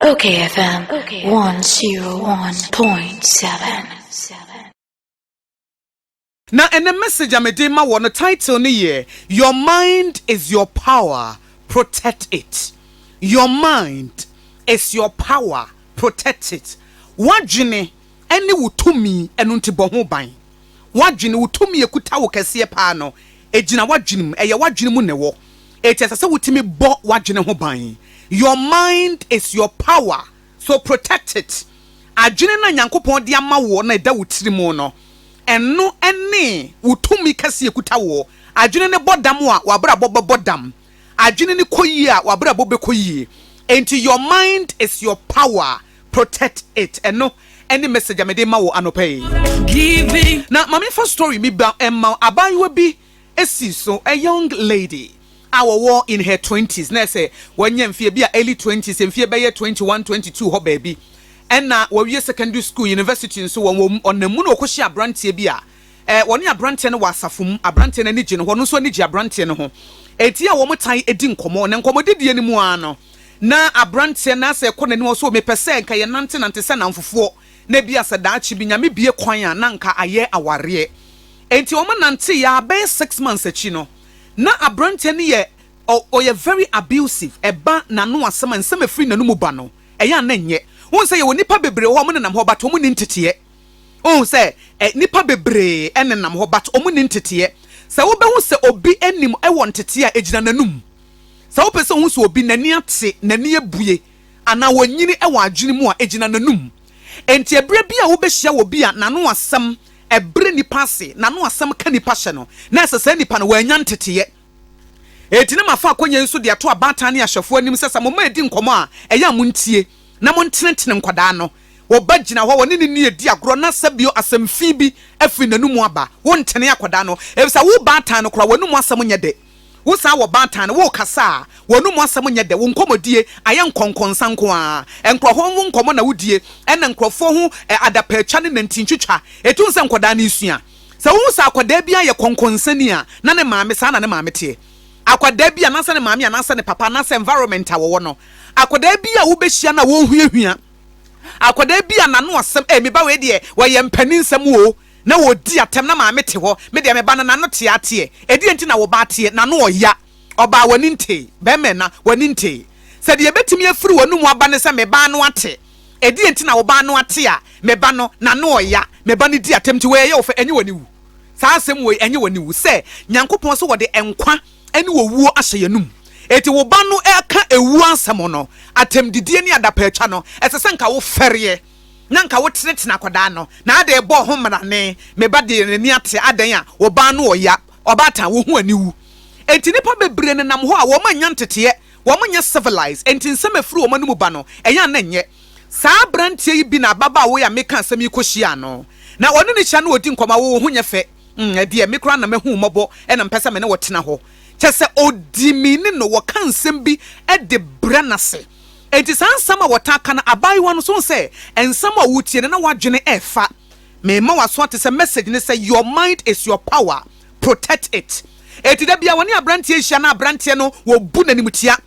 Okay, FM 101.7. Na ɛnɛ message a mede ma wɔ no title no yɛ Your mind is your power, protect it. Your mind is your power, protect it. W'adwene ne wo tumi, ɛno nti bɔ ho ban. W'adwene, wo tumi a ɛkuta wo kɛseɛ paa no, ɛgyina w'adwene mu. Ɛyɛ w'adwene mu na ɛwɔ, enti ɛsɛ sɛ wotumi bɔ w'adwene ho ban. Your mind is your power, so protect it. Adwene no a Nyankopɔn de ama woɔ na ɛda wo tiri mu no, ɛno ne wo tumi kɛseɛ a ɛkuta woɔ. Adwene no bɔ dam a, w'abrabɔ bɛbɔ dam. Adwene no kɔ yie a, w'abrabɔ bɛkɔ yie. Enti your mind is your power. protect it ɛno ɛne message a mede ma wo anɔpa yi na ma mefa story mi ba ɛma abaayewa bi esi so a young lady a wɔwɔ in her twenties na ɛsɛ wɔnyɛ mfie bi a early twenties mfie bɛyɛ twenty one twenty two hɔ baabi ɛna wɔwie secondary school university nso wɔn wɔn ɔnam mu na wɔkɔhyɛ aberanteɛ bi a Ɛ, wɔne aberanteɛ no wɔ asafo mu, aberanteɛ no ani gye ne ho, ɔno nso ani gye aberanteɛ no ho. Enti a wɔtae di nkɔmmɔ, na nkɔmmɔdidie no mu ara no, na aberanteɛ no asɛ kɔ n'anim, ɔwɔ sɛ, 'O, mepɛ sɛ anka yɛnantenante sɛ nnamfofoɔ, na ebia sɛ daakye bi Nyame bue kwan a, na anka ayɛ awareɛ. Enti wɔnanteeɛ ara, bɛyɛ six months akyi no, na aberanteɛ no yɛ, ɔ, ɔyɛ very abusive, ɛba n'ano asɛm a, nsɛm a ɛfiri n'anomu ba no, ɛyɛ a na ɛnyɛ. Wohu sɛ yɛwɔ nnipa bebree wɔ hɔ a, wɔnenam hɔ, but wɔnni nteteɛ. Wohu sɛ nnipa bebree nenam hɔ but wɔn nni nteteɛ. Sɛ wobɛhu sɛ obi anim wɔ nteteɛ a, ɛgyina n'anum. Sɛ wopɛ sɛ wohu sɛ obi n'ani ate, n'ani abue anaa wɔnyini wɔ adwene mu a, ɛgyina n'anum. Enti ɛberɛ bi a wobɛhyia obi a n'ano asɛm ɛbrɛ nnipa ase, n'ano asɛm ka nnipa hyɛ no, na ɛsɛ saa nnipa no, wɔannya nteteɛ. Enti na mafa akɔnnɔ yi nso de ato abaatan ne ahwɛfo anim sɛ sɛ mo mma redi nkɔmmɔ a, ɛyɛ a montie, na montenetene nkwadaa no. Wo ba gyina hɔ, wɔne no ni, edi agorɔ, na sɛ bio asɛm fi bi firi n'anom aba, wontene akwadaa no, efisɛ wo baatan no koraa, w'anom asɛm nyɛ dɛ. Wosan wɔ baatan no, worekasa a, w'anom asɛm nyɛ dɛ. Wo nkɔmmɔdie ayɛ nkɔnkɔnsa nko ara. Nkurɔfoɔ ho nkɔmmɔ na wodie, ɛnna nkurɔfoɔ ho adapaatwa ne nanti ntwitwa. Ɛtu sɛ nkwadaa no resua. Sɛ wohu sɛ akwadaa bi ayɛ kɔnkɔnsani a, na ne maame, saa na ne maame teɛ. Akwadaa bi anaasɛ ne maame anaasɛ ne papa anaasɛ environment a wɔwɔ no. Akwadaa bi a wobɛhyia no a wɔrehuahua. Akwadaa bi a n'ano asɛm, ee, me ba wei deɛ, wɔyɛ mpaninsɛm o, na ɔdi atɛm na maame te hɔ. Me deɛ me ba no, n'ano te ara teɛ. Ɛdeɛn nti na wo ba ateɛ? N'ano ɔya. Ɔbaa, w'ani ntee. Barima ɛna, w'ani ntee. Sɛ deɛ ɛbɛtumi afiri w'anomu aba ne sɛ, me ba ano ate. Ɛdeɛn nti na wo ba ano ate a me ba no n'ano ɔya, me ba no di atɛm nti wei ɛyɛ wo fɛ, ɛnye w'ani wu? Saa asɛm wei ɛnye w'ani wu sɛ Nyankopɔn se wɔde nkwa ne owuo ahyɛ y'anum? Enti wo ba no ɛka ewuo asɛm no, atɛmdidie ne adapaatwa no, ɛsɛ sɛ nka wo fɛreɛ na nka wo tenetene akwadaa no na ade rebɔ ho mmarane, me ba deɛ n'ani ate adɛn a wo ba ano ɔya, ɔbaatan wo ho ani wu? Enti nnipa bebree nenam hɔ a wɔn annya nteteɛ wɔn nyɛ civilized enti nsɛm a ɛfiri wɔn anomu ba no ɛyɛ a na ɛnyɛ. Saa abranteɛ yi bi na ababaawa yi a meka asɛm yi kɔhyiaa no. Na ɔne no hyia na wɔdi nkɔmmɔ a wo wo ho nyɛ fɛ mm ɛdeɛ me koraa na mahu wo mmɔbɔ na mpɛ sɛ me ne wo tena hɔ. Kyɛ sɛ ɔdi me ni no wɔka nsɛm bi de brɛ no ase. Enti saa nsɛm a wɔtaa ka no abaayewa no nso hu sɛ nsɛm a wotie no na w'adwene ɛrefa. Mema w'aso ate sɛ message ne sɛ your mind is your power. Protect it. Enti da bia wɔne abranteɛ rehyia na abranteɛ no wɔbu n'animutia.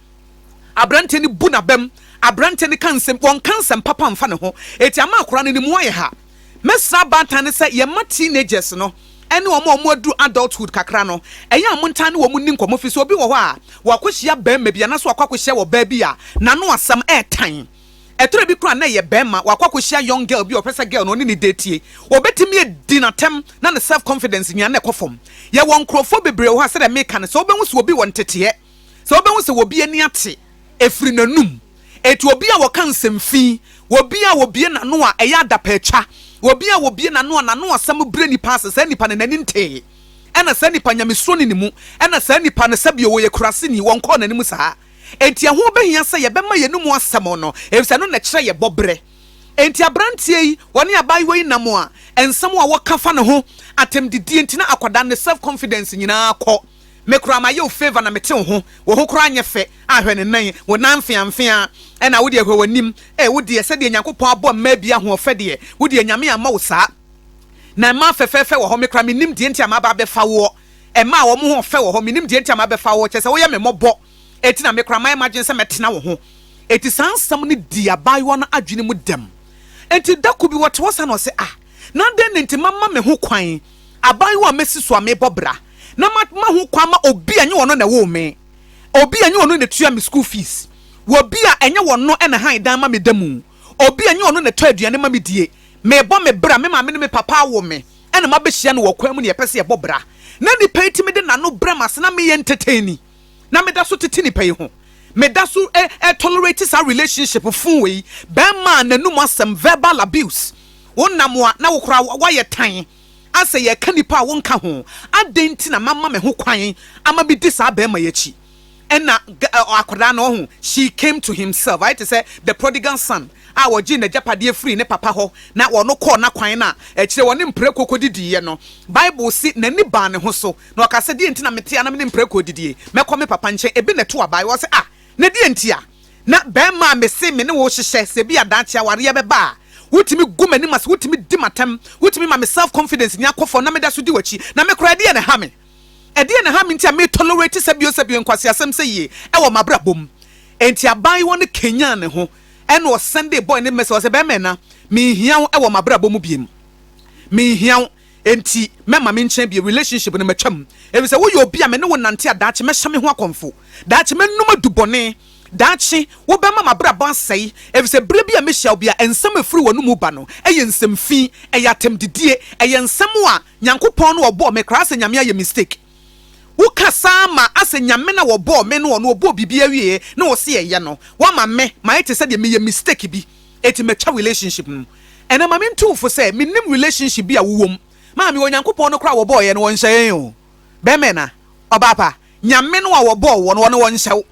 Abranteɛ no bu n'abam. Abranteɛ no ka nsɛm, wɔnka nsɛm papa mfa ne ho. Eti ama akwadaa no ne mu ayɛ ha. Mɛsrɛ abaatan no sɛ yɛmma teenagers no ne wɔn a wɔaduru adulthood kakra no, ɛyɛ a montaa ne wɔn nni nkɔmmɔ firi sɛ obi wɔ hɔ a, wakɔhyia barima bi anaasɛ wakɔ akɔhyia wɔ baa bi a, n'ano asɛm ɛretan. Ɛtɔrɛ bi koraa a na ɛyɛ bɛɛma wakɔ akɔhyia young girl bi a ɔpɛ sɛ girl no ɔne no datie. Ɔbɛtumi adi no atɛm na ne self confidence nwiane ɛkɔ fam. Yɛwɔ nkorɔfoɔ bebree wɔ hɔ a sɛdeɛ meka no sɛ wobɛhu sɛ obi wɔ nteteɛ, sɛ wobɛhu sɛ obi ani ate ɛfiri n'anum. Ɛti obi a ɔka nsɛm fi, obi a ɔbie n'ano a ɛyɛ adapaatwa, obi a ɔbie n'ano a n'ano asɛm brɛ nipa ase saa nipa no n'ani ntee. Ɛna saa nipa nyamesuoni ne mu, ɛna saa nipa no sɛbio ɔyɛ kuraseni wɔnkɔɔ n'anim saa. Enti ɛho behia sɛ yɛbɛma yɛn anom asɛm no, efisɛ ɛno na ɛkyerɛ yɛn bɔberɛ. Enti aberanteɛ yi, ɔne abaayewa yi nam a nsɛm a wɔka fa ne ho, atɛmdidie nti na akwadaa no, ne self confidence nyinaa kɔ. Me koraa mayɛ wo favour na mete wo ho, wo ho koraa nyɛ fɛ a, hwɛ ne nan yi, wo nan mfeamfea, ɛna wo deɛ hwɛ w'anim, eh, wo deɛ sɛdeɛ Nyankopɔn abɔ mmaa bi ahoɔfɛ deɛ, wo deɛ Nyame amma wo saa. Na mmaa fɛfɛɛfɛ wɔ hɔ, me koraa mennim deɛ nti a maba abɛfa woɔ. Ɛmaa wɔn ho ɔfɛ wɔ hɔ. Mennim deɛ nti a mabɛfa wo, kyerɛ sɛ woyɛ me mmɔbɔ, enti na me koraa mayɛ m'adwene sɛ mɛtena wo ho. Enti saa nsɛm no dii abaayewa no adwene mu dɛm. Enti da koro bi wɔte hɔ saa na ɔse, Ah, na adɛn na enti mamma me ho kwan, abaayewa a masi so a mebɔ bra, na mamma ho kwan ma obi a ɛnyɛ ɔno na ɛwoo me, obi a ɛnyɛ ɔno na ɛtua me school fees, obi a ɛnyɛ ɔno na ɛhan dan ma me da mu, obi a ɛnyɛ ɔno na ɛtɔ aduane ma medie, mebɔ me bra, me maame ne me papa awo me. na mabehyia no wɔ ɔkwan mu na yɛpɛ sɛ yɛbɔ bra. Ná nipa yi tumi de n'ano brɛ m'ase, na meyɛ entertainee. Ná meda so tete nipa yi ho. Meda so ɛ, tolerate saa relationship foo wei. Barima a n'anum asɛm, verbal abuse. Wonam a, na wo koraa woayɛ tan. Asɛ yɛka nipa a wonka ho. Adɛn nti na mama me ho kwan ama medi saa barima yi akyi? Ɛna akwadaa no, ɔho, she came to himself, ayɛ te sɛ the prodigal son a wɔgyee n'agyapadeɛ firii ne papa hɔ na ɔno kɔɔ n'akwan no a, akyire ɔne mprako kɔdidiiɛ no, Bible se n'ani baa ne ho so, na ɔkaa sɛ, Deɛ nti na mete a na mene mprako redidie? Mɛkɔ me papa nkyɛn. Ebi na ɛto abaeɛ, ɔse, Ah, na deɛ nti a na barima a mese me ne wo rehyehyɛ, sɛ ebia daakye awareɛ bɛba a, wotumi gu m'anim ase, wotumi di m'atɛm, wotumi ma me self-confidence nya kɔ fam na meda so di w'akyi, na me koraa ɛdeɛn na ɛha me? Ɛdeɛn na ɛha me nti a me tolerate sɛbio sɛbio nkwaseasɛm sɛyie wɔ m'abrabɔ mu? Enti abaayewa no kanyaan ne ho ɛna ɔsan dee boy no message, ɔsɛ, Bɛɛma ɛna, menhia wo wɔ m'abrabɔ mu biem. Menhia wo, enti mɛma me nkyɛn bio, relationship no matwa mu. Ɛfiri sɛ woyɛ obi a me ne wo nante a daakye mɛhyɛ me ho akɔmfo, daakye mɛnom adubɔne. Daakye, wobɛma m'abrabɔ asɛe, efisɛ bere bi a mehyia wo bi a, nsɛm a efiri w'anomu ba no yɛ nsɛm fi, ɛyɛ atɛmdidie, ɛyɛ nsɛm a Nyankopɔn no a ɔbɔɔ me kra asɛ Nyame ayɛ mistake. Wo kasa ara ma asɛ Nyame no a ɔbɔɔ me no ɔno ɔbɔɔ biribiara wieɛ na ɔse ɛyɛ no, wama me ma ayɛ te sɛ deɛ meyɛ mistake bi enti matwa relationship no. Ɛnɛ ma mentu wo fo sɛ menim relationship bi a wo wom, maame o Nyankopɔn no koraa a ɔbɔɔ yɛn no ɔnhyɛ yɛn o, bɛɛma anaa ɔbaa pa, Nyame no a ɔbɔɔ wo no ɔno ɔnhyɛ wo.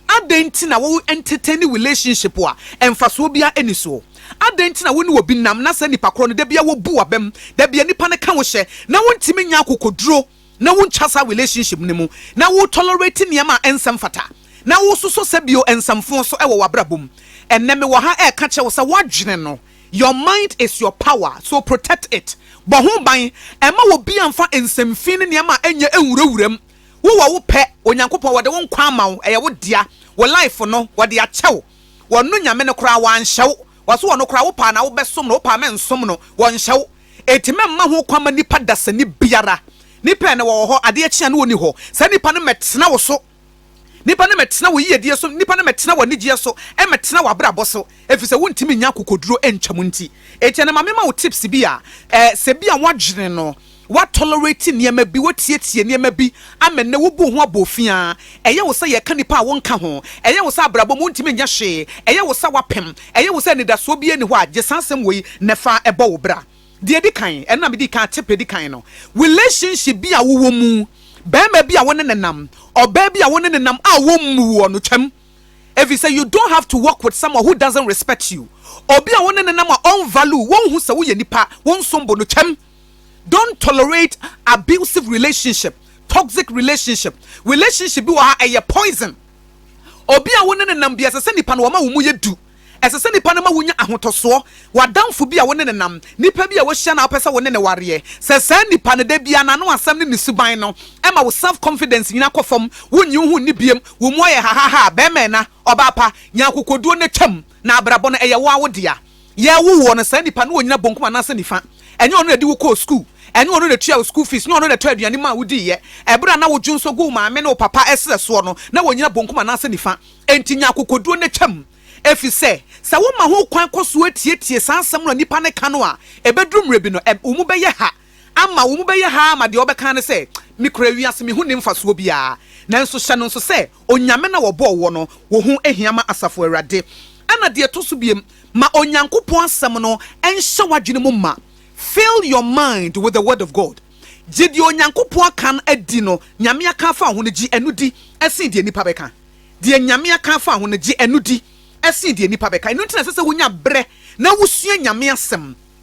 Adɛn nti na wo entertain relationship a mfasoɔ biara nni soɔ? Adɛn nti na wo ne obi nam na saa nipa korɔ no da biara wo bu w'abam, da biara nipa no ka wo hyɛ na wo ntumi nnya akokoduro na wo ntwa saa relationship no mu, na wo tolerate nneɛma a ɛnsɛ mfata, na wo sosɔ sɛ bio nsamfoɔ so wɔ w'abrabɔ mu? Ɛnnɛ me wɔ ha ɛreka kyerɛ wo sɛ w'adwene no, your mind is your power, so protect it, bɔ ho ban, mma obiara mfa nsɛmfii ne nneɛma a ɛnyɛ nwura wura mu. Wo wɔ wo pɛ, Onyankopɔn wɔde wo nkwa ama wo, ɛyɛ wo dea, wo life no wɔde akyɛ wo, wɔno Nyame no koraa wanhyɛ wo, wɔse wɔno koraa wopaa na wobɛsom no, wopaa mɛnsom no, wɔnhyɛ wo, enti mɛmma ho kwan ma nipa dasani biara, nipa ɛnɛ wɔwɔ hɔ, adeɛ kye a ne wɔnni hɔ, saa nipa no mɛtena wo so, nipa no mɛtena wo yiyedie so, nipa no mɛtena w'anigyeɛ so, mɛtena w'abrabɔ so, efisɛ wontumi nya akokoduro ntwa mu nti, enti ɛnɛ ma mema wo tips bi a, eh, sɛ bi a woadwene no, Wa tolerate nneɛma bi, wotietie nneɛma bi ama nnɛ wubu ho aboofiaa. Ɛyɛ wo sɛ yɛka nnipa a wonka ho. Ɛyɛ wo sɛ abrabɔ mu wuntumi nyɛ hwee. Ɛyɛ wo sɛ woapem. Ɛyɛ wo sɛ anidasoɔ biara nni hɔ a gye saa asɛm wei na fa bɔ wo bra. Deɛ edi kan, ɛno na mede kaa tip edi kan no, relationship bi a wowɔ mu, barima bi a wo ne no nam, ɔbaa bi a wo ne no nam a wommu woɔ no, twam. Efisɛ you don't have to work with someone who doesn't respect you. Obi a wo ne no nam a ɔnvalue wo, wonhu sɛ woyɛ nipa, wonsom bo no, twam. Don't tolerate abusive relationship, toxic relationship, relationship bi wɔ ha ɛyɛ poison. Obi a wo ne ne nam bi ɛsɛ sɛ nipa no wɔma wo mu yɛ du. Ɛsɛ sɛ nipa no ma wonya ahotɔsoɔ. W'adamfo bi a wo ne ne nam, nipa bi a wohyia na wopɛ sɛ wo ne ne wareɛ, sɛ saa nipa no da biara n'ano asɛm ne ne suban no ɛma wo self confidence nyina kɔ fam, wonnye wo ho nni biam, wo mu ayɛ hahahaa, bɛɛma ɛna, ɔbaa pa, nya akokoduo na twam. Na abrabɔ no, ɛyɛ wo ara wo dea. Yɛwo woɔ no, saa nipa no ɔnyina bonkum anaasɛ nifa. Ɛnyɛ ɔno na ɛde wo kɔɔ sukuu. Ɛnyɛ ɔno na ɛtuaa wo school fees. Ɛnyɛ ɔno na ɛtɔɔ aduane maa wo diiɛ. Ɛberɛ a na wo dwonsɔ gu wo maame ne wo papa serɛ soɔ no, na wɔnyina bonkum anaasɛ nifa. Enti nya akokoduo na twam. Ɛfiri sɛ, sɛ wo ma ho kwan kɔ so tietie saa nsɛm no a nipa no ka no a, ɛbɛduru mmerɛ bi no, wo mu bɛyɛ ha ama, wo mu bɛyɛ ha ara ama deɛ ɔbɛka ara ne sɛ, Me kura wiase, me ho nni mfasoɔ biara. Nanso hyɛ no nso sɛ, Onyame na wɔbɔɔ woɔ no, wo ho hia ma Asafo Awurade. Ɛna deɛ ɛtɔ so biom, ma Onyankopɔn Asɛm no nhyɛ w'adwene mu ma. Fill your mind with the Word of God. Gye deɛ Onyankopɔn aka no adi no, Nyame aka afa wo ho no, gye ɛno di sen deɛ nnipa bɛka. Deɛ Nyame aka afa ho no, gye ɛno di sen deɛ nnipa bɛka. Ɛno nti na ɛsɛ sɛ wonya berɛ na wosua Nyame Asɛm.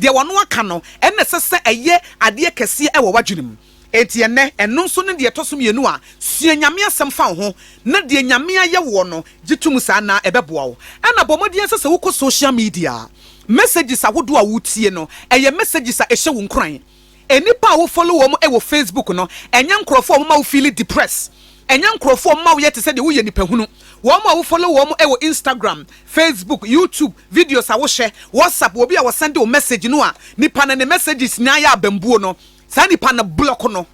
Deɛ wɔno aka no, ɛna ɛsɛ sɛ ɛyɛ adeɛ kɛseɛ wɔ w'adwene mu. Enti ɛnnɛ, ɛno nso ne deɛ ɛtɔ so mmienu a sua Nyame asɛm fa wo ho, na deɛ Nyame ayɛ woɔ no, gye to mu saa na ɛbɛboa wo. Ɛna bɔ mmɔden ara sɛ sɛ wokɔ social media a, messages ahodoɔ a wotie no, ɛyɛ messages a ɛhyɛ wo nkuran. Nnipa a wo follow wɔn wɔ Facebook no, ɛnyɛ nkorɔfoɔ a wɔma wo feel depress. Ɛnyɛ nkorɔfoɔ a wɔma wo yɛ te sɛ deɛ woyɛ nipa hunu. Wɔn a wo follow wɔn wɔ Instagram, Facebook, YouTube, videos a wo hwɛ, WhatsApp, obi a ɔsɛnde wo message no a nipa no ne messages nyinaa yɛ abambuo no, saa nipa no block no.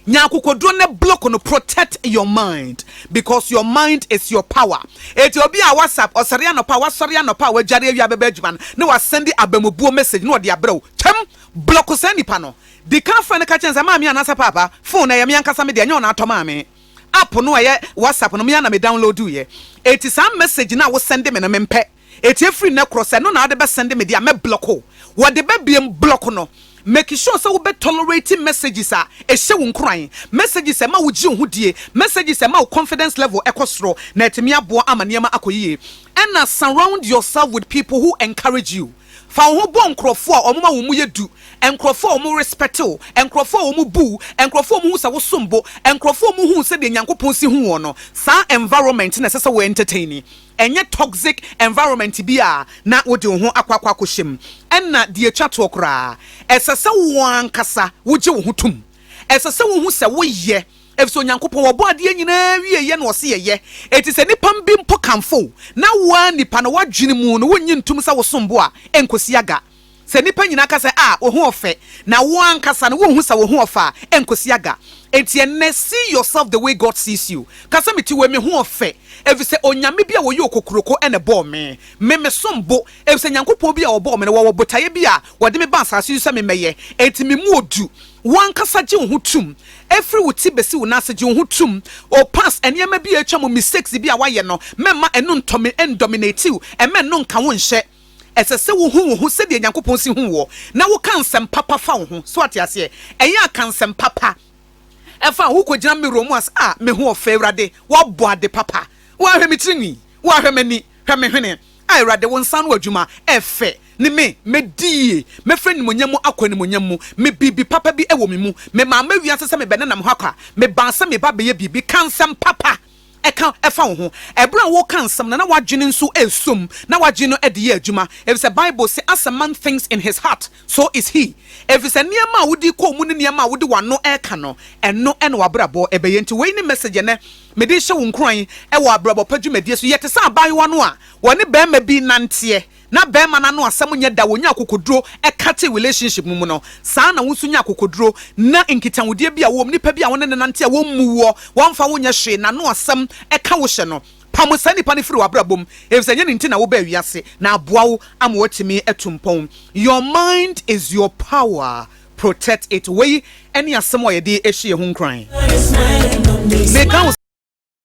Nya akokoduro ne block no protect your mind because your mind is your power eti obi a whatsapp ɔsɔre anɔpa wasɔre anɔpa a wadware awia bɛbɛ adwuma no na wasɛnde abamubuo message na ɔde abrɛ wo twɛm block saa nipa no dikan frɛ no ka kyɛn sɛ maame anasa paapa phone ɛyɛ me ankasa me deɛ nyɛ ɔna atɔ maame app no ɛyɛ whatsapp no me ana me download yɛ eti saa message na wosɛnde me no mempɛ. Etie firi nnɛ korɔ sɛ ɛno na wode bɛ sɛnde me deɛ a mɛ blɔk wo wɔde bɛ biem blɔk no make sure sɛ wobɛ tolerate messages a ɛhyɛ wo nkuran messages a ɛma wo gye wo ho die messages a ɛma wo confidence level ɛkɔ soro na atumi aboa ama nneɛma akɔ yie ɛna surround yourself with people who encourage you fa wo ho bɔ nkorɔfoɔ a wɔn ma wɔn mu yɛ du nkorɔfoɔ a wɔn respect wo nkorɔfoɔ a wɔn bu wo nkorɔfoɔ a wɔn hu sɛ wo som bo nkorɔfoɔ a wɔn hu sɛdeɛ Nyankopɔn si hu wɔn no saa environment na ɛsɛ sɛ wo entertain ɛnyɛ toxic environment bi a na wode wo ho akɔ akɔ akɔhyɛ mu. Ɛnna deɛ ɛtwa toɔ koraa, ɛsɛ sɛ wo ankasa wogye wo ho tom. Ɛsɛ sɛ wohu sɛ woyɛ, ɛfiri sɛ Onyankopɔn, ɔbɔɔ adeɛ nyinaa awieeɛ na ɔse yɛyɛ. Enti sɛ nnipa bi mpo kamfo wo, na wo ara nipa no, w'adwene mu no, wonnye ntom sɛ wosom bo a, ɛnkɔsi aga. Sɛ nnipa nyinaa ka sɛ, 'A, wo ho ɔfɛ, na wo ankasa no wunhu sɛ wo ho ɔfɛ a, ɛrenkosi aga. Enti ɛnnɛ, see yourself the way God sees you. Ka sɛ, 'Me ti wei, me ho ɔfɛ, efisɛ Onyame bi a ɔyɛ okokuroko na ɛbɔɔ me. Me, mesom bo, efisɛ Nyankopɔn bi a ɔbɔɔ me no, wɔwɔ botaeɛ bi a wɔde me baa asase so sɛ memmɛyɛ. Enti memu odu. Wo ankasa gye wo ho tom. Ɛfiri wo ti bɛsi wo nan ase, gye wo ho tom. O, past nneɛma bi a atwam, mistakes bi a woayɛ no, mɛmma ɛno ntɔ me, ɛndominate wo, ɛmma ɛno nka wo nhyɛ. Ɛsɛ sɛ wuhu wo ho sɛdeɛ Nyankopɔn si hu woɔ, na woka nsɛm papa fa wo ho. So woate aseɛ? Ɛyɛ a ka nsɛm papa fa ho. Wokɔgyina mirror mu a, sɛ, Ah, me ho ɔfɛ, Awurade, woabɔ ade papa. Wo ara hwɛ me tiri nwi. Wo ara hwɛ m'ani. Hwɛ me hwene. Ah, Awurade, wo nsa ano adwuma ɛfɛ. Ne me, mɛdi yie. Mɛfiri animuonyam mu akɔ animuonyam mu. Me biribi papa bi wɔ me mu. Memaa mɛwiase sɛ mebɛnenam hɔ akɔ a, mebaa sɛ meba abɛyɛ biribi. Ka nsɛm papa. ɛka fa wo ho. Bere a woreka nsɛm no, na w'adwene nso resɔ mu, na w'adwene no de yɛ adwuma, efisɛ Bible se, As a man thinks in his heart, so is he. Efisɛ nneɛma a wode kɔ wo mu ne nneɛma a wode w'ano reka no, ɛno na w'abrabɔ bɛyɛ. Enti wei ne message a ɛnnɛ mede rehyɛ wo nkuran wɔ abrabɔ pa dwumadie so. Yɛ te sɛ abaayewa no a wɔne barima bi renanteɛ na bɛɛma no ano asɛm nyɛ da wɔnya akokoduro ɛkate relationship mu mu no saa na wo nso nya akokoduro na nkitahodeɛ bi a wowɔ mu nipa bi a wone no nante a wɔmmu woɔ wɔmfa wo nyɛ hwee n'ano asɛm ɛka wo hyɛ no pamo saa nipa no firi w'abrabɔ mu ɛfisɛ ɛnyɛ ne nti na wobaa wiase na aboa wo ama woatumi atu mpɔn your mind is your power protect it wei ɛne asɛm a yɛde ɛhyɛ yɛn ho nkuran meka wo